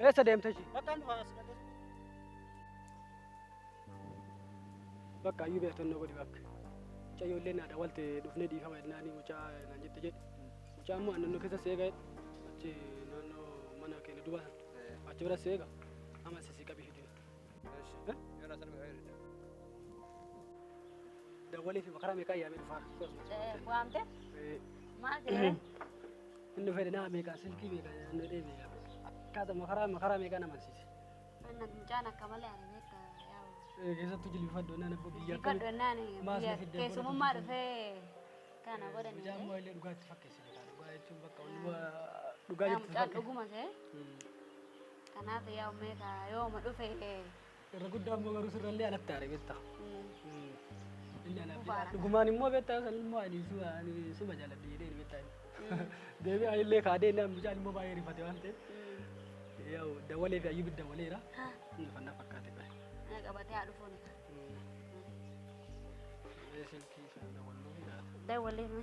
Eessa deemta ishii? Bakka hin dhufa as dhaqee. Bakka ayyuu beektan na godhi bakka. Mucaa ijoollee naadha walte dhufnee dhiifama jennaanii mucaa naan jette jedhe. Mucaa immoo aannan keessa seega achi naannoo mana keenya duuba sana achi bira seega amma sisi qabii fidee. Dawwalee fi makaraa meeqaa yaamee dhufaa? Waamte? Maal jedhee? Inni fedhe nama meeqaan silkii meeqaan inni deebi'e akkaatuma karaa makaraa meeqaan amansiise. Anna mucaan akka malee ani beekta yaa'u. Eh, Keessattuu jilbifadhu innaan abbo biyya Biyya akkamii- dhonnaan maas biyya na fidde keessumummaa godhatu. dhufee kana Mucaan godhanii. immoo illee dhugaa itti fakkeesse beekaa dhugaa jechuun bakka ol dhugaa dhugaa Yaa jirtu mucaan fakkeesse. dhuguma ta'e. Mm. Kanaaf yaa ummeeka yooma dhufe Irra guddaa immoo garuu sirrallee alatti aare beektaa. Inni anaaf jedha. Dhugumaan immoo beektaa san immoo ani suma ani suma jaaladhe jedhee ni beektaa. Deebii anillee kaadee inni mucaan immoo baay'ee rifate waan ta'eef. Yaa'u dawalee fi ayyubi dawaleera. Inni fanna fakkaate bahe. Ana qabatee haa dhufuun. Silkii isaa dawaluu ni laata. Dawwalee.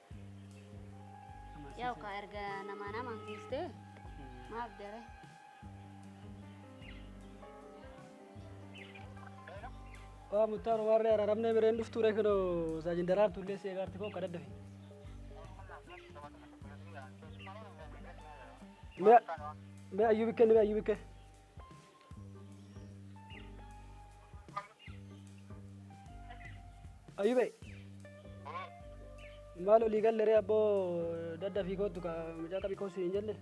Yaa'u kaa erga namaa namaan geessee maaf daree. Waa muttaan waan reera ramnee mireen dhuftuu ree kunoo saajin daraan tullee si eegaarti koo kadhadda fi. Mee mee ayyuu bikkee ni mee ayyuu bikkee. Ayube. Maal olii galle ree abboo dadda fi kootu ka mucaa qabi koosu hin jenne.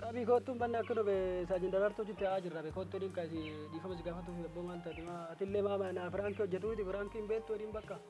Qabi kootu hin banne akka dhube saajin daraartuu jitte haa jirra be kootu dhiin kaasi dhiifama si gaafatuuf abboo maal taate maa atillee maa naa firaankii hojjetu miti firaankii hin beektu waliin bakka.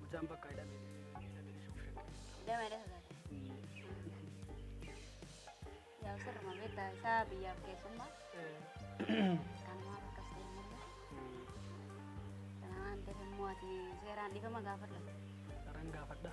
Mucaan bakka hidhame hidhame ishuu shakkee. Damee dha sodaate. Yaa sirruma beektaa isaa biyyaaf keessummaa. Kanuma akkas ta'e malee. Kana waan ta'eef immoo ati seeraan dhiifama gaafadha. Saraan gaafadha.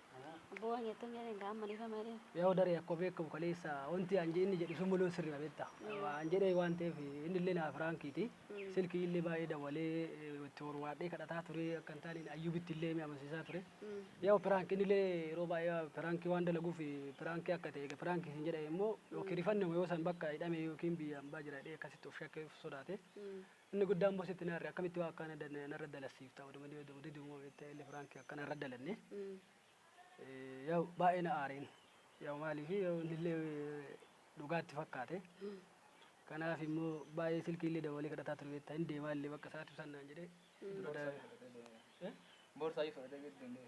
Bu'aa jettuun jedheen gaa amma dhiifama jedheen. Yaa'u daree akkuma beekamu kaleessa wanti an inni jedhu sun mul'uun sirrii beekta. An jedhee waan ta'eef inni illee naaf raankiiti. Silkii illee baay'ee dawwalee itti horwaadhee kadhataa ture akka hin taane ayyuubitti illee mi amansiisaa ture. Yaa'u piraank inni illee yeroo baay'ee piraankii waan dalaguuf piraankii akka ta'e piraankii sin jedhame immoo yookiin rifannuma yoo san bakka hidhame yookiin biyya ambaa jira jedhee akkasitti of shakkee of sodaate. Inni guddaan boss itti na arre akkamitti waa akkaana danaya narra dalassiifta oduma ni odamu didi moo beekta illi firaanki akkana irra dalanne yaw baay'ee na aareen yaw maaliif yaw innillee dhugaatti fakkaate kanaaf immoo baay'ee silkii illee dawalee kadhataa ture beekta hin deemaa illee bakka isaatti ibsannaan jedhee dura Boorsaa daa- eh? boorsaa ifa dhagee danda'e.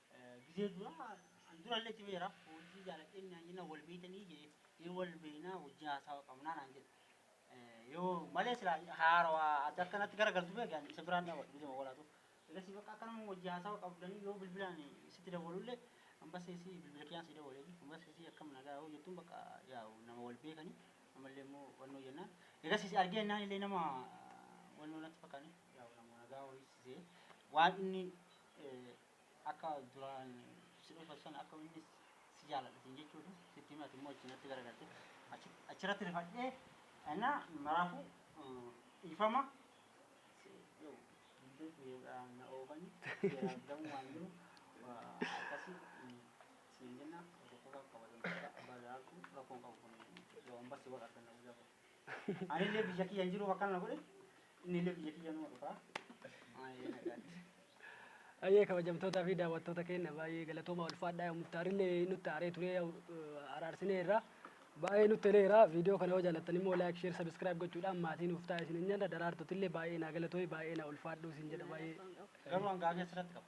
Gizee duraa an durallee timeera hojii jaaladheen naan jennaan wal beeytanii jee ee wal beeynaa hojii haasawa qabnaa naan jedhe yoo malee silaa haarawa adda akkanatti gara galtu beeke an isa biraan dhaabadhu gizee mawalaatu egasii bakka akkanuma hojii haasawa qabdanii yoo bilbilaan sitti dawwalullee ambasseesii bilbila kiyaan sii dawwaleefi ambasseesii akkam nagaa yoo jettuun bakka yaa'u nama wal beekanii amallee immoo wannoo jennaan egasii si argee naan illee nama wannoo natti fakkaane yaa'u nama nagaa horii sisee waan inni Akka duraan si dhufa san akka inni si jaaladha siin jechuudha. Sitti hima ati immoo achi natti garagalte. Achi achirratti rifadhee ana maraafu dhiifama si yoo hundee kiyya na oofani seera abdamu waan jiru akkasi siin jenna tokkofa kabajamtoota abbaa jaalatu rakkoon qabu kun yoo ambassi wal arganna guyyaa boru. Ani illee biyya kiyya hin jiru bakka na godhe Innillee biyya kiyya numa dhufa. Maayee nagaan. Ayyee kabajamtootaa fi daawwattoota keenya baay'ee galatooma ulfaadhaa yoo muftaarillee nutti aaree turee yoo araarsineerra baay'ee nutti toleera viidiyoo kana yoo jaallattan immoo laayik sheer sabiskiraayib gochuudhaan maatii nuuf taa'e isin hin nyaanna daraartutillee baay'ee naa galatoomi baay'ee naa ulfaadhuu isin jedha baay'ee Garuu an gaafii asirratti qaba.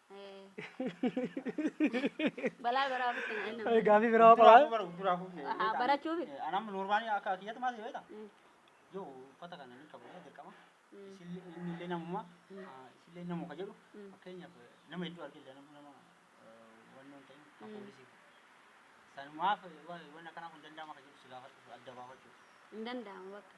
Balaa baraa bitti na inni. Ay, Gaafii biraa qabaa? Haa, barachuufi. Anam normaali akka kiyyatti maal si beekta? Yoo uffata kana ni qabu dirqama. Isillee inni illee namuma isillee namu ka jedhu fakkeenyaaf nama hedduu argee illee nama nama wanni hin ta'in kan poolisii. Sanumaaf waan akkanaa kun danda'ama ka jedhu si gaafadhu adda baafachuuf. Hin danda'amu bakka.